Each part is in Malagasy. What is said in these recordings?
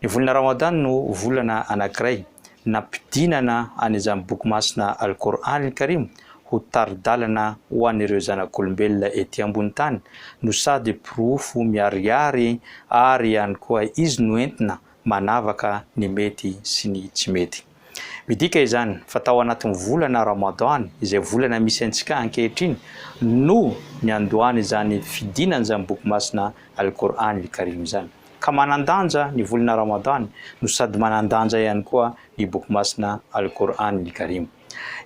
Ny volana Ramadan no volana anankiray nampidinana an'izany boky masina Al-Qour'an-Al-Karim ho tari-dalana ho an'ireo zanak'olombelona ety ambony tany no sady porofo miharihary ary ihany koa izy no entina manavaka ny mety sy ny tsy mety. Midika izany fa tao anatin'ny volana Ramadan, izay volana misy antsika ankehitriny, no niandohan'izany fidinana izany boky masina Al-Qur'an Al-Karim izany. Ka manan-danja ny volana Ramadan no sady manan-danja ihany koa ny boky masina Al-Qur'an Al-Karim.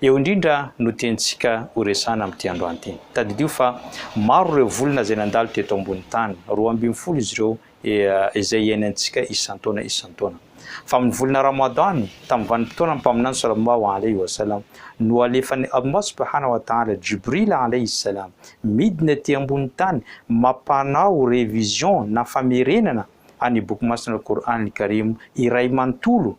Eo indrindra no tiantsika horesahana amin'ity androany ity. Tadidio fa maro ireo volana izay nandalo teto ambony tany, roa ambin'ny folo izy ireo izay iainantsika isan-taona isan-taona. Fa amin'ny volana Ramadan, tamin'ny vanim-potoanan'ny Mpaminany sallallahu alayhi wa sallam, no alefan'i Allah subhanahu wa ta'ala Jibril alayhi s-salam midina ety ambonin'ny tany mampanao révision na famerenana an'ny Boky Masina Al-Qur'an Al-Karim iray manontolo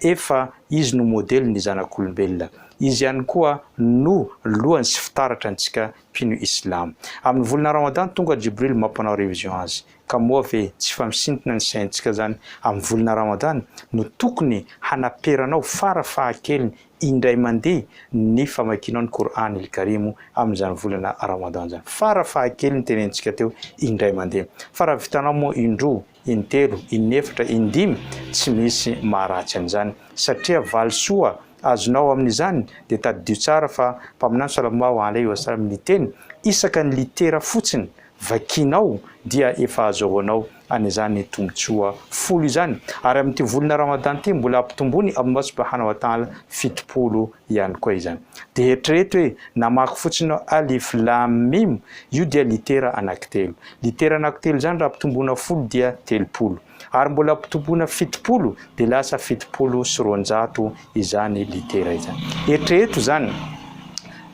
Efa Izy no modely ny zanak'olombelona. Izy ihany koa no lohany sy fitaratra antsika mpino Islam. Amin'ny volana Ramadan tonga Jibril mampanao révision azy. Ka moa ve tsy fa misintona ny saintsika zany amin'ny volana Ramadan no tokony hanaperanao fara fahakeliny indray mandeha ny famakianao ny Qur'an il-Karim amin'izany volana Ramadan zany. Fara fahakeliny tenenitsika teo indray mandeha. Fa raha vitanao moa indroa in-telo, in-efatra, in-dimy, tsy misy maharatsy an'izany, satria valisoa azonao amin'izany, dia tadidio tsara fa Mpaminany Sallallahu alaihi wa sallam niteny, isaka ny litera fotsiny vakianao dia efa azahoanao an'izany tombotsoa folo izany, ary amin'ity volana Ramadan ity mbola ampitomboin'i Allah Subhanahu wa Ta'ala fitopolo ihany koa izany. Dia eritrereto hoe, namaky fotsiny aho, Alif, Lam, Mim, io dia litera anankitelo. Litera anankitelo izany raha ampitomboina folo dia telopolo. Ary mbola ampitomboina fitopolo dia lasa fitopolo sy roanjato izany litera izany. Eritrereto izany,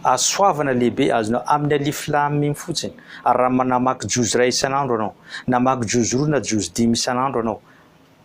hasoavana lehibe azonao amin'ny Alif, Lam, Mim fotsiny. Ary raha manamaky juz iray isan'andro ianao, namaky juz roa na juz dimy isan'andro ianao,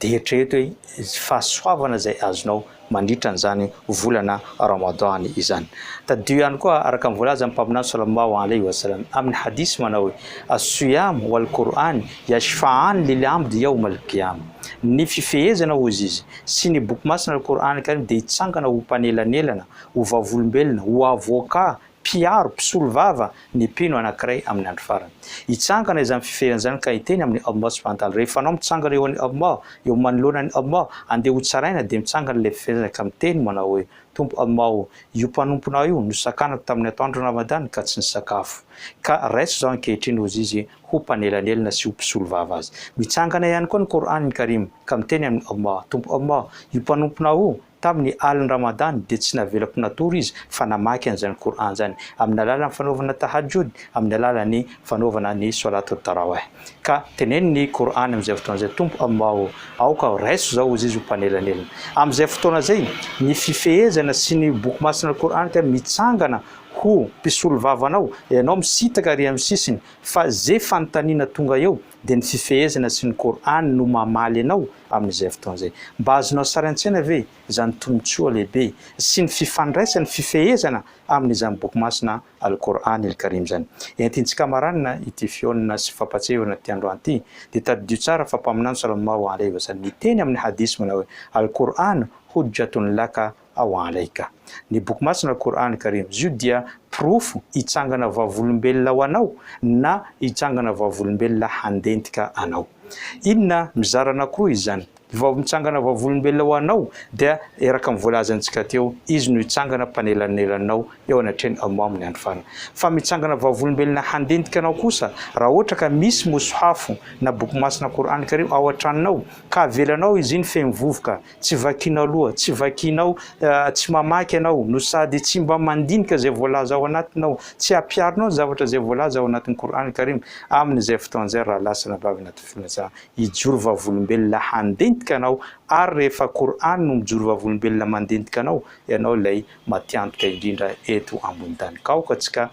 Dia eritrereto hoe izay fahasoavana izay azonao mandritra an'izany volana Ramadan izany. Tadidio ihany koa araka ny voalazan'ny Mpaminany Sallallahu alaihi wa sallam amin'ny hadith manao hoe, As-siyam wal Qur'an yashfa'an lil 'abd yawm al-qiyam. Ny fifehezana hozy izy sy ny Boky Masina Al-Qur'an Al-Karim dia hitsangana ho mpanelanelana, ho vavolombelona, ho avocat, Mpiaro, mpisolovava, ny mpino anankiray amin'ny andro farany. Hitsangana izany fiferana izany ka hiteny amin'ny Allah subhanahu wa ta'ala, rehefa anao mitsangana eo an'i Allah, eo manoloana an'i Allah, andeha ho tsaraina, dia mitsangana ilay fiferana izany ka miteny manao hoe, Tompo Allah ô! Io mpanomponao io no sakanako tamin'ny atoandron'ny Ramadan ka tsy nisakafo. Ka raiso izao ankehitriny hozy izy ho mpanelanelana sy ho mpisolovava azy. Mitsangana ihany koa ny Qur'an Karim ka miteny amin'i Allah, Tompo Allah, io mpanomponao io Tamin'ny alin'ny Ramadan dia tsy navelako natory izy fa namaky an'izany Qur'an izany, amin'ny alalan'ny fanaovana Tahajjud, amin'ny alalan'ny fanaovana ny Swalât al-Tarawih. Ka teneno ny Qur'an amin'izay fotoana izay, Tompo aho mao, aoka raiso izao hozy izy ho mpanelanelana. Amin'izay fotoana izay, ny fifehezana sy ny Boky Masina Al-Qur'an ka mitsangana ho mpisolo vava anao, ianao misitaka ary amin'ny sisiny fa ze fanontaniana tonga eo, dia ny fifehezana sy ny Kor'any no mamaly anao amin'izay fotoana izay. Mba azonao sary an-tsaina ve izany tombontsoa lehibe sy ny fifandraisan'ny fifehezana amin'izany Boky masina Al-Kor'an il-Karim izany? Entintsika maranina ity fihaonana sy fampahatsiahivana ity androany ity, dia tadidio tsara fa Mpaminany Sallallâhu alaihi wa sallam niteny amin'ny Hadith manao hoe, Al-Kor'an hujjatun laka ao Alaika. Ny Boky Masina Qur'an Karim izy io dia porofo hitsangana vavolombelona ho anao na hitsangana vavolombelona handentika anao. Inona mizara anankiroa izy izany? Ny vao mitsangana vavolombelona ho anao dia earaka amin'ny voalazantsika teo, izy no hitsangana mpanelanelanao eo anatrehan'i Allah amin'ny Andro Farany. Fa mitsangana vavolombelona handentika anao kosa raha ohatra ka misy Mushaf na Boky Masina Qur'an Karim ao an-tranonao ka avelanao izy iny feno vovoka Tsy vakinao loha, tsy vakinao, tsy mamaky ianao, no sady tsy mba mandinika izay voalaza ao anatiny aho, tsy ampiharinao ny zavatra izay voalaza ao anatin'ny Qur'an Karim, amin'izay fotoana izay raha lasa nabavy anatin'ny filazana hijoro vavolombelona handentika anao, ary rehefa Qur'an no mijoro vavolombelona mandentika anao, ianao ilay matiantoka indrindra eto ambony tany. Ka aoka tsika.